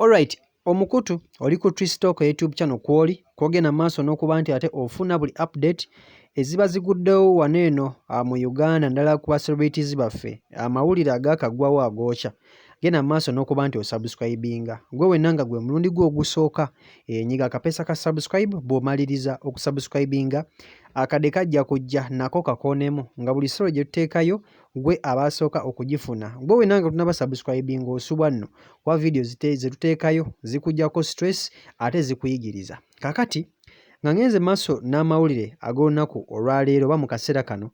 Alright omukutu oli ku Tristalk YouTube channel kwoli kwogenda maaso n'okuba nti ate ofuna buli update eziba ziguddewo wano eno ah, mu Uganda ndala ku celebrities baffe amawulire agakagwawo agookya genda maaso n'okuba nti osubscribinga gwe wenna nga gwe mulundi gwe ogusooka enyiga eh, akapeesa ka subscribe bw'omaliriza okusubscribinga akade kajja kujja nako kakoonemu nga buli solo gye tuteekayo gwe abaasooka okugifuna gwe wena nga tunaba subscribing osubwa nno kuba vidiyo zetuteekayo zikujako stress ate zikuyigiriza kakati nga ngenze maaso n'amawulire ag'olunaku olwaleero oba mu kaseera kano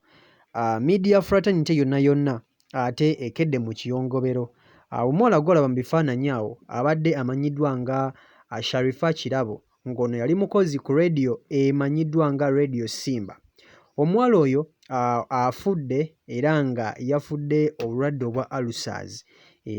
ah, media fraternity yonna yonna ate ekedde mu kiyongobero ah, omuwala gwolaba mu bifaananyi awo abadde amanyiddwa nga ah, sharifa kirabo ng'ono yali mukozi ku leediyo emanyiddwa nga Radio Simba. Omuwala oyo afudde era nga yafudde obulwadde obwa Alusaazi.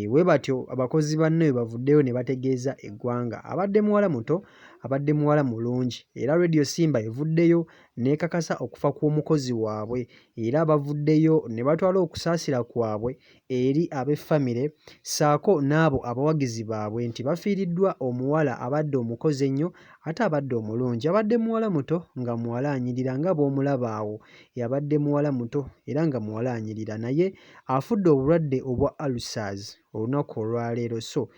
Bwe batyo abakozi banne bwe bavuddeyo ne bategeeza eggwanga. Abadde muwala muto, abadde muwala mulungi era Radio Simba evuddeyo n'ekakasa okufa kw'omukozi waabwe era bavuddeyo ne batwala okusaasira kwabwe eri ab'e famire ssaako n'abo abawagizi baabwe nti bafiiriddwa omuwala abadde omukozi ennyo ate abadde omulungi. Yabadde muwala muto nga muwala anyirira nga bw'omulaba awo yabadde muwala muto era nga muwala anyirira naye afudde obulwadde obwa Ulcers olunaku olwaleero so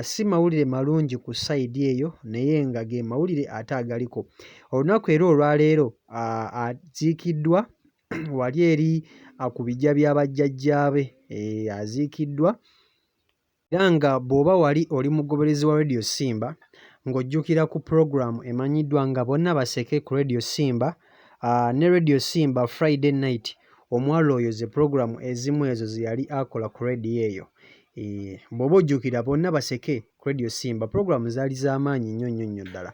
si mawulire malungi ku sayidi eyo naye nga ge mawulire ate agaliko olunaku era olwaleero aziikiddwa wali eri ku biggya bya bajjajjaabe eh, aziikiddwa era nga bw'oba wali oli mugoberezi wa Radio Simba ng'ojjukira ku pulogulaamu emanyiddwa nga bonna baseke ku Radio Simba ah, ne Radio Simba Friday night omwalo oyo ze pulogulaamu ezimu ezo ze yali akola ku radio eyo eh, bw'oba ojjukira bonna baseke ku Radio Simba pulogulaamu zaali z'amaanyi nnyo nnyo nnyo ddala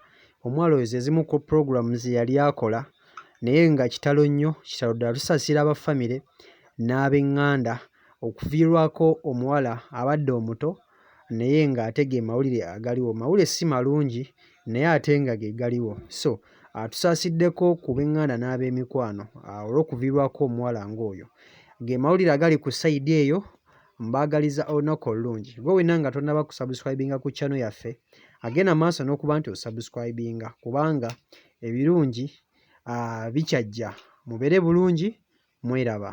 omwalo oyo ze zimu ku pulogulaamu ze yali akola naye nga kitalo nnyo kitalo ddala tusasira aba famire n'ab'eŋŋanda okuviirwako omuwala abadde omuto naye ng'ate ge mawulire agaliwo mawulire si malungi naye ate nga ge galiwo so atusaasiddeko ku b'eŋŋanda n'ab'emikwano olw'okuviirwako omuwala ng'oyo ge mawulire agali ku sayidi eyo mbaagaliza olunaku olulungi gwe wenna nga tonnaba kusabuscribinga ku chano yaffe agenda maaso n'okuba nti osabuscribinga kubanga ebirungi bikyajja mubere bulungi mweraba.